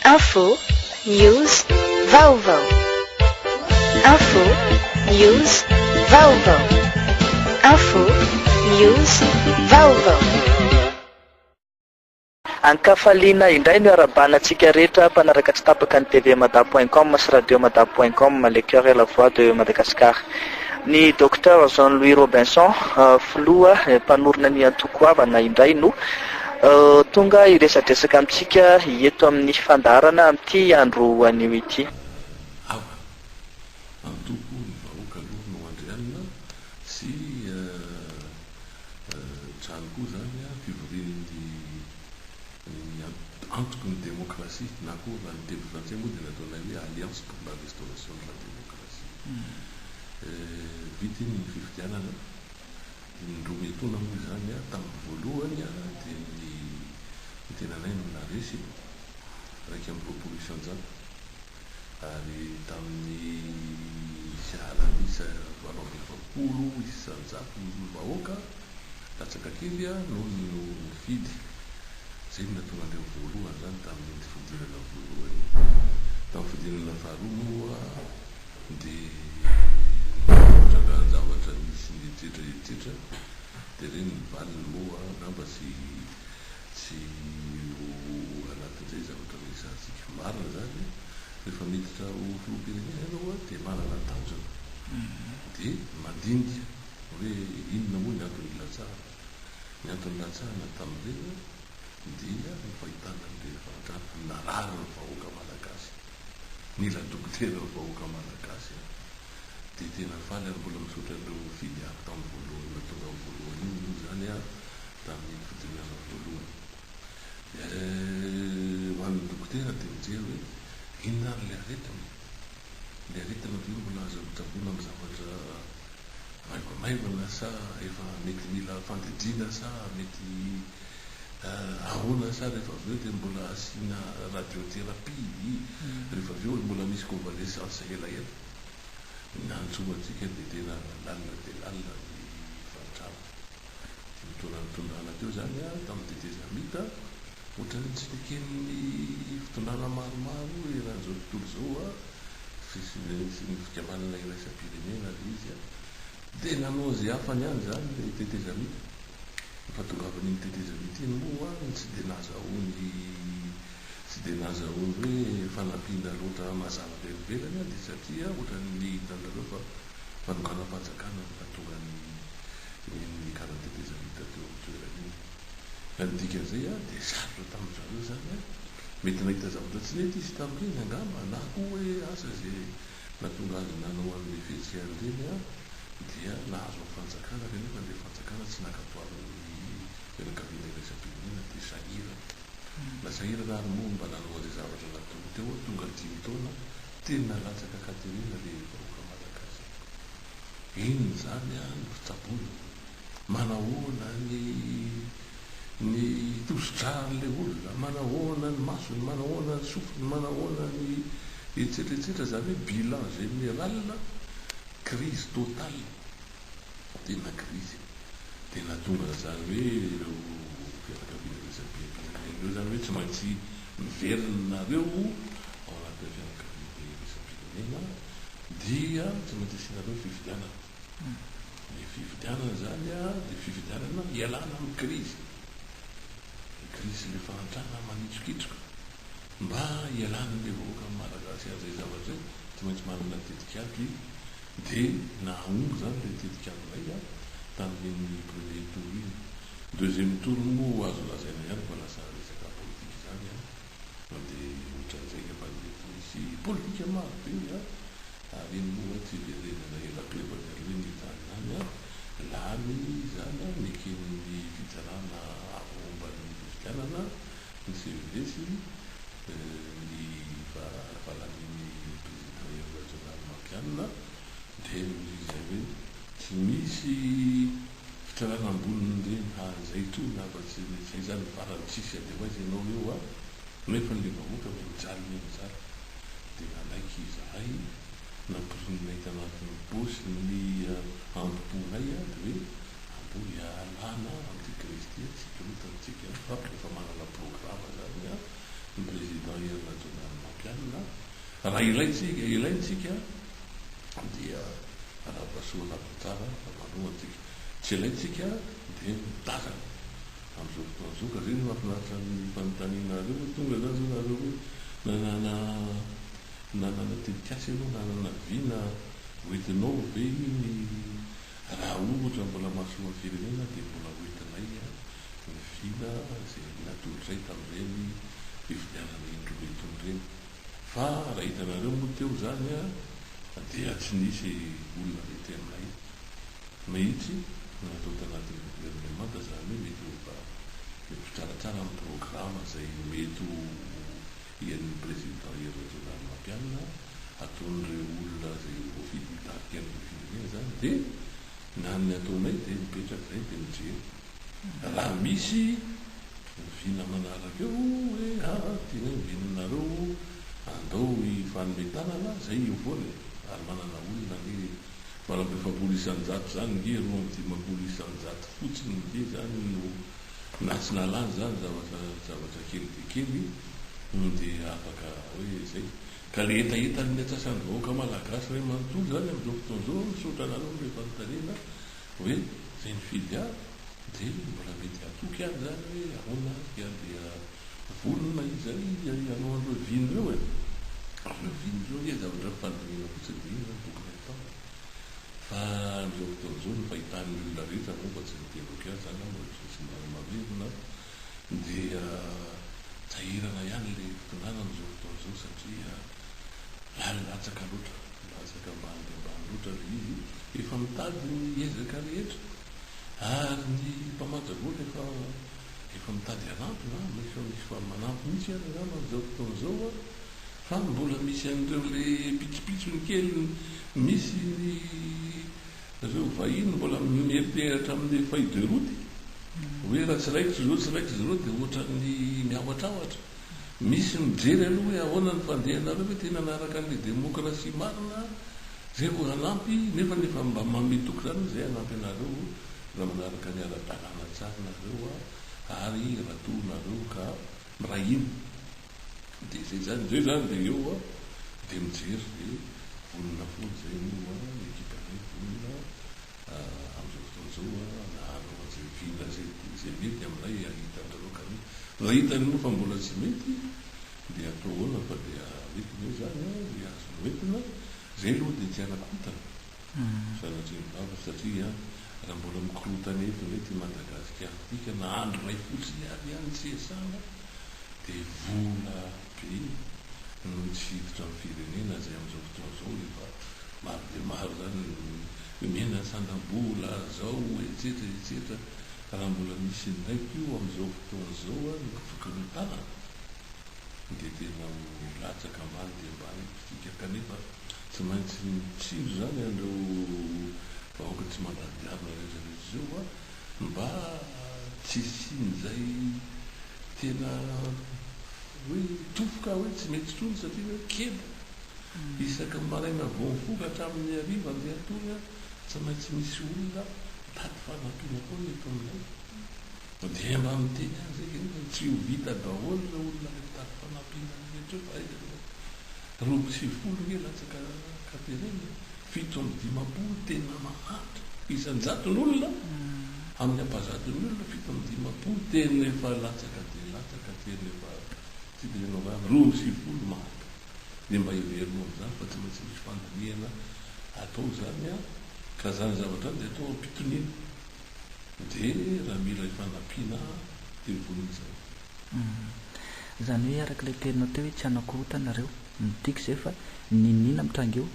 Info, news, vaovao. Info, news, vaovao. Info, news, vaovao. An-kafaliana indray no iarahabana antsika rehetra mpanaraka tsy tapaka ny TV Mada point com sy Radio Mada point com, le coeur et la voix de Madagascar. Ny Docteur Jean Louis Robinson, filoha mpanorina ny antoko Havana indray no. Tonga hiresadresaka amintsika eto amin'ny fandaharana amin'ity andro anio ity. Ava. Antoko ny vahoaka aloha no andrianina sy trano koa izany fivorian'ny antoko ny demokrasia na koa raha ny teny frantsay moa dia ny ataonay hoe alliance pour la restauration de la démocratie. Vita iny ny fifidianana. Ny indroa etoana moa izany a, tamin'ny voalohany a, dia ny ny tenanay no naharesy e, iraika amby roapolo isan-jato, ary tamin'ny sy alamisa valo amby efapolo isan-jato ny vahoaka latsaka kely a, noho ny no nifidy. Izay no nahatonga an'ireo voalohany izany tamin'iny fifidianana voalohany iny. Tamin'ny fifidianana faharoa moa. Dia nitrangan-javatra nisy nietsetra etsetra, dia ireny ny valiny moa angamba tsy tsy ho anatin'izay zavatra resahantsika. Marina izany, rehefa miditra ho filoham-pirenena ianao dia manana tanjona, dia mandinika hoe inona moa ny antony nilatsahana. Ny antony nilatsahana tamin'ireny dia ny fahitana an'ireny fahantrana narary ny vahoaka malagasy. Mila dokotera ny vahoaka Malagasy a! Dia tena faly ary mbola misaotra an'ireo nifidy ahy tamin'ny voalohany nahatonga ahy voalohany iny moa izany a! Tamin'iny fidinana voalohany. Eh! Ho an'ny dokotera dia mijery hoe inona ary ilay aretina e! Ilay aretina ve mbola aza hotsaboina amin'ny zavatra maivamaivana sa efa mety mila fandidiana sa mety Ahoana sa rehefa avy eo dia mbola asiana radiothérapie ii, rehefa avy eo mbola misy convalescence elaela? Ny antso antsika dia tena lalina dia lalina ny fahantrana. Teo am-potoanan'ny tondrana teo izany an, tamin'ny tetezamita, ohatran'ny tsy neken'ny fitondrana maromaro eran'izao tontolo izao an, fisian'ny fikambanana iraisam-pirenena ilay izy an, Dia nanao izay hafany ihany izany ilay tetezamita. Efa tongavan'iny tetezamita iny moa ny tsy dia nahazahoany tsy dia nahazahoany hoe fanampiana loatra mazava avy any ivelany dia satria ohatran'ny hitanareo fa fanokanam-panjakana no nahatonga ny nikaran'ny tetezamita teo amin'ny toerana iny. Ka ny dikan'izay dia sarotra tamin-dry zareo izany. Mety nahita zavatra tsy nety izy tamin'iny angamba na koa hoe asa izay Nahatonga azy nanao an'ilay fihetsika ireny aho dia nahazo ny fanjakana kanefa ilay fanjakana tsy naka toaran'ny fianakaviana iraisam-pirenena dia sahirana. Nasahirana ary moa mba nanao an'izay zavatra nataony teo aho tonga dimy taona tena latsaka Katerina ilay vahoaka Malagasy. Inona izany an ny fitsaboana? Manahoana ny ny tosi-dran'ilay olona, manahoana ny masony, manahoana ny sofiny, manahoana ny etsetra etsetra, izany hoe bilan général, crise totale, tena crise, dia nahatonga an'izany hoe ireo fianakaviana resabe am-pirenena ireo izany hoe tsy maintsy miverina nareo ao anatin'ilay fianakaviana iraisampirenena dia tsy maintsy asianareo ny fifidianana. Ny fifidianana izany dia fifidianana hialana amin'ny krizy, ny krizin'ilay fahantrana manitsokitsoka. Mba hialan'ilay vahoaka Malagasy an'izay zavatra izay, tsy maintsy manana tetik'ady izy. Dia nahahomby izany ilay tetik'ady maika tamin'iny premier tour iny. Deuxième tour moa azo lazaina ihany fa lasa resaka politika izany an! Mandeha ohatran'izay angamba ny eto misy politika marobe an! ary iny moa an tsy hiverenana ela be vao miala eo ny tany izany an! lany izany an! neken'ny fitsarana avo omban'ny fifidianana ny CEV sy ny valanavalanain'ny Président Hery Rajaonarimampianina dia noho izay hoe tsy misy Fitsarana amboniny re ha zay toa ny afatsy re zay zany ny farany tsisy ady ho aiza ianao eo a! Nefany le vahoaka ve mijaly ve mijaly de nanaiky izahay nampirinay tanatin'ny paosy ny amboponay a de hoe andeho hialana amin'ity Kristy a tsy hikorotana isika fa efa manana programa zany a ny président Hery Rajaonarimampianina Raha ilaintsika, ilaintsika dia anabasoa na gitara na bano antsika. Tsy ilaintsika dia mitazana. Amin'izao fotoan'izao ka zay no mahafinaritra ny fanontaniana anareo hoe tonga zany zao nareo hoe nanana nanana tetikasa ianao, nanana vy na hoentinao ve iny? Raha ohatra mbola mahasoa ny firenena dia mbola hoentinay ny vina izay natolotray tamin'ireny fivilianana indroa be itony ireny. Fa raha hitanareo moa teo izany an, dia tsy nisy olona nety anay mihitsy no natao tanatin'ny governemanta, izany hoe mety ho mba mitsaratsara amin'ny programa izay mety ho hihainon'ny Président Hery Rajaonarimampianina ataon'ireo olona izay voafidy hitarika ny firenena izany, dia na ny ataonay dia mipetraka izay dia mijery. Raha misy oviana manaraka eo hoe ah tianay hoviana anareo andao hifanome tanana zay eo foana e! Ary manana olona ange valo amby efapolo isan-jato zany nge roa amby dimampolo isan-jato fotsiny nge zany no na tsy nalany zany zavatra zavatra kely dia kely no dia afaka hoe zay! Ka le hetahetan'ny atsasany vahoaka malagasy ray manontolo zany amin'izao fotoana izao misaotra anareo no efa notaniana Hoe zay mifidy ahy dia mbola mety hatoky ihany izany hoe ahoana ary dia handeha vonona izay hanao an'ireo vino ireo e! ary ireo vino ireo ange zavatra nifandinihina fotsiny dia iny izany tokony hatao e! fa amin'izao fotoana izao ny fahitan'ny olona rehetra moa fa tsy ny tena oka izany aho mbola tsy misy marina marina dia sahirana ihany ilay mpitondranana izao fotoana izao satria ary latsaka loatra, latsaka ambany dia ambany loatra ilay izy, efa mitady ny ezaka rehetra ary ny mpamatsy vola efa efa mitady hanampina an, efa misy fa manampy mihitsy ary angamba amin'izao fotoana izao an, fa mbola misy an'ireo ilay pitsopitsony kely misy ny ireo vahiny mbola mieriperatra amin'ny feuille de route hoe raha tsy raikitra izao tsy raikitra izao dia ohatran'ny miahotrahotra. Misy mijery aloha hoe ahoana ny fandehanareo ve tena miaraka amin'ilay demokrasia marina zay vao hanampy nefa ny efa mba manome toky zany hoe zay hanampy anareo raha manaraka ny ara-dalàna tsara nareo ary raha toa nareo ka miray hina dia zay zany zay zany dia eo aho dia mijery dia vonona foana zay moa ny ekipanay vonona Amin'izao fotoana izao an, na anao aza eo hividy azy e, dia izay mety aminay e ahita anareo ka anie raha hitanao fa mbola tsy mety dia atao ahoana fa dia mety ve izany an, dia azonao entina, izay aloha dia tsy hanakotana sanatria ny vavaka satria an, raha mbola mikorotana eto indray ity Madagasikara ity ka na andro iray fotsiny ary an tsy hiasana dia vola be no tsy hiditra amin'ny firenena izay amin'izao fotoana izao efa maro dia maro izany ny miaina sandam-bola izao etsetra etsetra raha mbola misy indray koa amin'izao fotoana izao ary ny tokana tanana dia tena ho latsaka ambany dia ambany isika kanefa tsy maintsy mitsilo izany an'ireo vahoaka tsy mandady diavina rehetra rehetra izao Mba tsy hisian'izay tena hoe tofoka hoe tsy mety intsony satria hoe kely. Isaky ny maraina vao mifoka hatramin'ny hariva andian-tory a, tsy maintsy misy olona mitady fanampiana foana eto aminay. Na dia hay mba miteny aza eky nefa tsy ho vita daholo ireo olona ilay mpitady fanampiana rehetra eo fa aiza moa. Roa amby sivifolo ange latsaka Katerina e. Fito amby dimampolo tena mahantra isan-jaton'olona amin'ny ampahazaton'ny olona fito amby dimampolo tena efa latsaka dia latsaka tena efa tsy dia inona vava roa amby sivifolo mahantra dia mba heverina amin'izany fa tsy maintsy misy fandinihana atao izany an! ka izany zavatra izany dia atao am-pitoniana dia raha mila ifanampiana dia vonona izany. Izany hoe araka ilay teninao teo hoe tsy hanakorontana ireo. Ny tiako izay fa niniana mitranga eo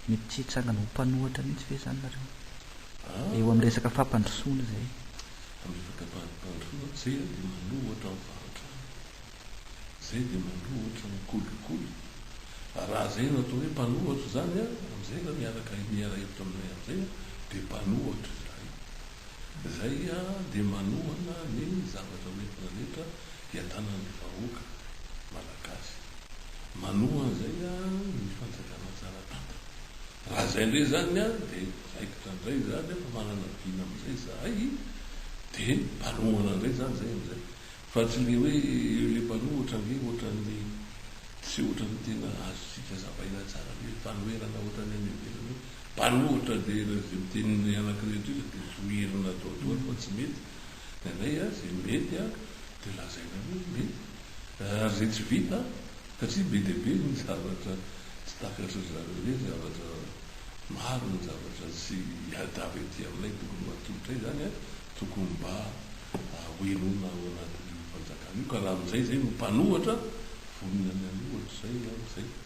mety tsy hitsangana ho mpanohatra mihitsy ve izany nareo eo amin'ny resaka fampandrosoana izay? Amin'ny resaka fampandrosoana izay dia manohatra ny fahantrana, izay dia manohatra ny kolikoly. Raha izay no atao hoe mpanohatra izany amin'izay raha miaraka miara-hevitra aminay amin'izay dia mpanohatra izahay. Izay dia manohana ny zavatra hoentina rehetra hiadanan'ny vahoaka Malagasy. Manohana izay ny fanjakana tsara tantana. Raha izay indray izany dia raikitra indray izany fa manana vina amin'izay izahay dia mpanohana indray izany izay amin'izay. Fa tsy ilay hoe ilay mpanohatra ange ohatran'ny tsy ohatran'ny tena azontsika hazavaina tsara be fanoherana ohatran'ny any ivelany hoe Mpanohitra dia raha izay mitenina anankiray eto iza dia zohirina atao daholo fa tsy mety ny anay a, izay mety a dia lazaina hoe mety ary izay tsy vita satria be dia be ny zavatra tsy takatry zareo hoe zavatra maro ny zavatra tsy hiadava ety aminay tokony ho atolotray izany a, tokony mba hohenoina ao anatin'io fanjakana io ka raha amin'izay izay no mpanohitra vonona ny hanohitra izay amin'izay.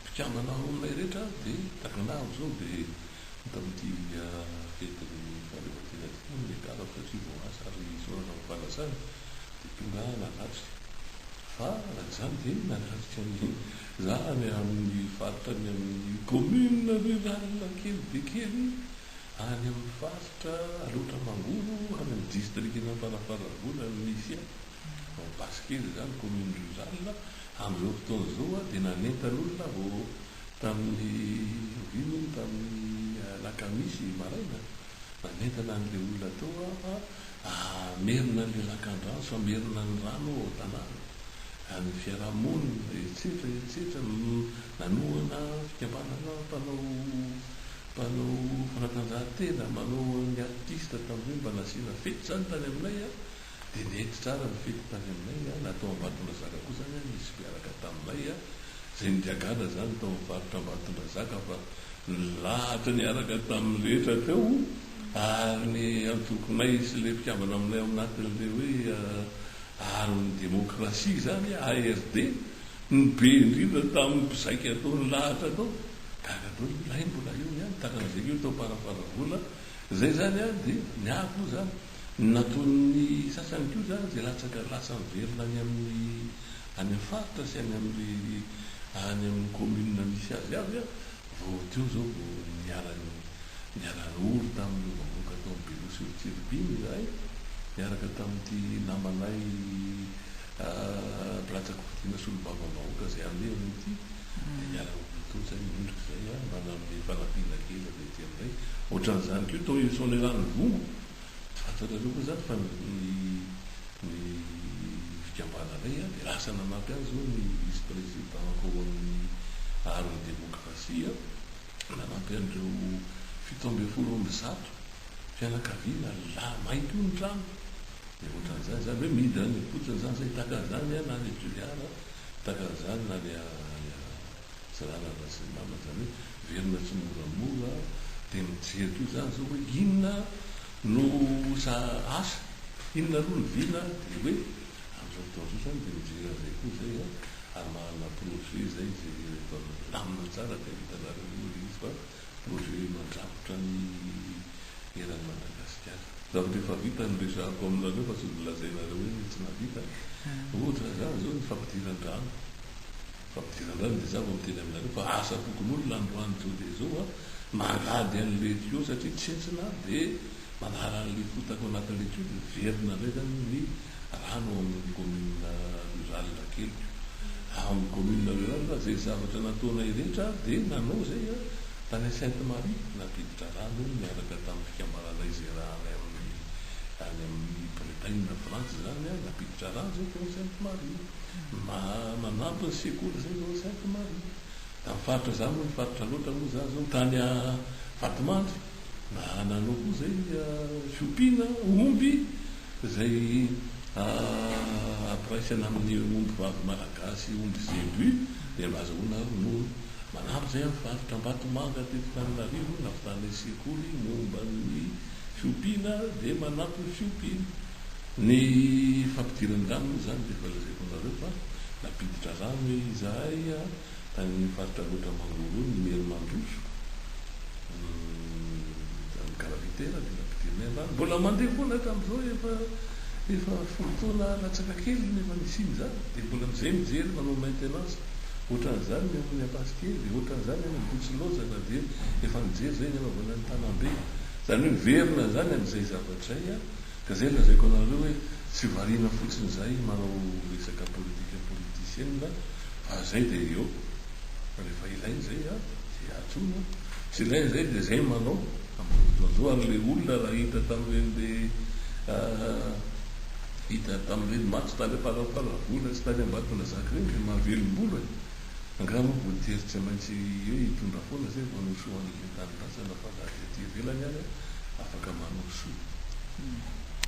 mpikambana roa ilay rehetra dia tagnana avy izao dia hita amin'ity fetin'ny fahaleovantena ity moa ny lehilahy satria voaasa ary isaorana amin'ny fanasany dia tonga nanafika fa raha izany dia nanafika ny zanany amin'ny faritra ny amin'ny commune rurale kely be kely any amin'ny faritra Alaotra Mangoro any amin'ny distrikan'Amparafaravola ny misy ahy. Ao Basikely izany, commune rurale, amin'izao fotoana izao dia nanentan'olona aho tamin'ny oviana hono, tamin'ny alakamisy maraina, nanentana an'ilay olona tao aho fa hamerina an'ilay lakandrano sy hamerina ny rano ao an-tanàna, an'ny fiarahamonina, etsetra etsetra, nanohana fikambanana mpanao mpanao fanatanjahantena, manao ny artiste tamin'izay mba nasiana fety izany tany aminay. Dia nety tsara ny fety tany aminay, na tao Ambatondrazaka koa izany nisy mpiaraka taminay izay nigaga-na izany tao amin'ny faritra Ambatondrazaka fa nilahatra niaraka tamin'ny rehetra teo ary ny antokonay sy ilay mpikambana aminay ao anatin'ilay hoe Aron'ny Demokrasia izany, ARD, ny be indrindra tamin'ny mpizaika tao nilahatra tao. Gaga daholo io lahy mbola eo ihany taran'izay io tao Parafaravola izay izany dia ny ahy koa izany. Ny nataon'ny sasany koa izany dia latsaka lasa miverina any amin'ny any amin'ny faritra sy any amin'ny any amin'ny commune misy azy avy vao teo izao vao niara niara ory tamin'ireo vahoaka tao amin'ny Beloha sy Rotsiribiny izahay niaraka tamin'ity namanay Bratsakovitina Solombavambahoaka izay alehany ity dia niara ory teo izay indrindra izay mba nanome fanampiana kely avy Dia amin'izay, ohatran'izany koa tao i Soanierano Vongo, tsy fantatrareo koa izany fa ny fikambananay dia lasa nanampy azy izao ny vice président ao amin'ny Art ny Démocratie, nanampy an'ireo fito ambin'ny folo amby zato fianakaviana lahy mainty io ny trano, dia ohatran'izany izany hoe midina any am-potsiny izany, izay taka an'izany na any Toliara, taka an'izany na any. Tsy lalana sy ny namany izany hoe velona tsimoramora dia mijery toy izany izao hoe inona no sa asa inona aloha ny vina dia hoe amin'izao fotoana izao izany dia mijery an'izay koa izay a ary manana projet izay jerereto ary milamina tsara dia hitanareo eo ilay izy fa projet mandrakotra ny eran'i Madagasikara. Zavatra efa vita no resahako aminareo fa tsy ho lazainareo hoe tsy nahavita ohatra izany izao ny fampidiran-drano. Fampidirana indray no tezako miteny aminareo fa asa fokonolona androany zao dia zao a, mangady anle tuyau satria tsentsina dia manala anle fotaka ao anatinle tuyau dia miverina indray zany ny rano ao amin'ny commune rurale keliko ao amin'ny commune rurale zay zavatra nataonay rehetra dia nanao izay a, tany Sainte Marie nampiditra rano niaraka tamin'ny fikambananay izay raha any amin'ny any amin'ny Bretagne na France zany a, nampiditra rano izay tao Sainte Marie. Mba manampy ny sekoly izay izao tsy haiko ny marina. Tamin'ny faritra izaho moa, ny faritra loatra aloha izaho izao, tany Vatomandry, mba nanao koa izay fiompiana omby izay ampiraisana amin'ny ombivavy malagasy, omby zebu, dia mba azahoana ary no manampy izay amin'ny faritra Ambatomanga teto Tananarivo, navitanay sekoly momba ny fiompiana dia manampy ny fiompiana. Ny fampidiran-drano moa izany dia efa lazaiko anareo fa nampiditra rano izahay tany amin'ny faritra Alaotra Mangoro ny Maire mandroso izany gravitaire dia nampidirinay ny rano. Mbola mandeha foana hatramin'izao efa efa folo taona latsaka kely no efa nisian'izany dia mbola amin'izay mijery manao maintenance ohatran'izany ny amin'ny Ampasikely, ohatran'izany any Ambohitsilaozana dia efa nijery izay ny anaovana ny Tanambe. Izany hoe miverina izany amin'izay zavatra izay. Ka zay lazaiko anareo hoe tsy variana fotsiny zahay manao resaka politika politicienne fa zay dia eo fa refa ilaina zay a dia antsoina a, tsy ilaina zay dia zay manao ampirodoandreo ary le olona raha hita tamreny le hita tamreny maty tany amparampara vola sy tany ambatonazaka reny dia mahavelom-bolo e. Angaha moa voatery tsy maintsy hoe hitondra foana zay vao hanohy soa an'ilay tanindrazana fa na dia aty ivelany ary afaka manohy soa.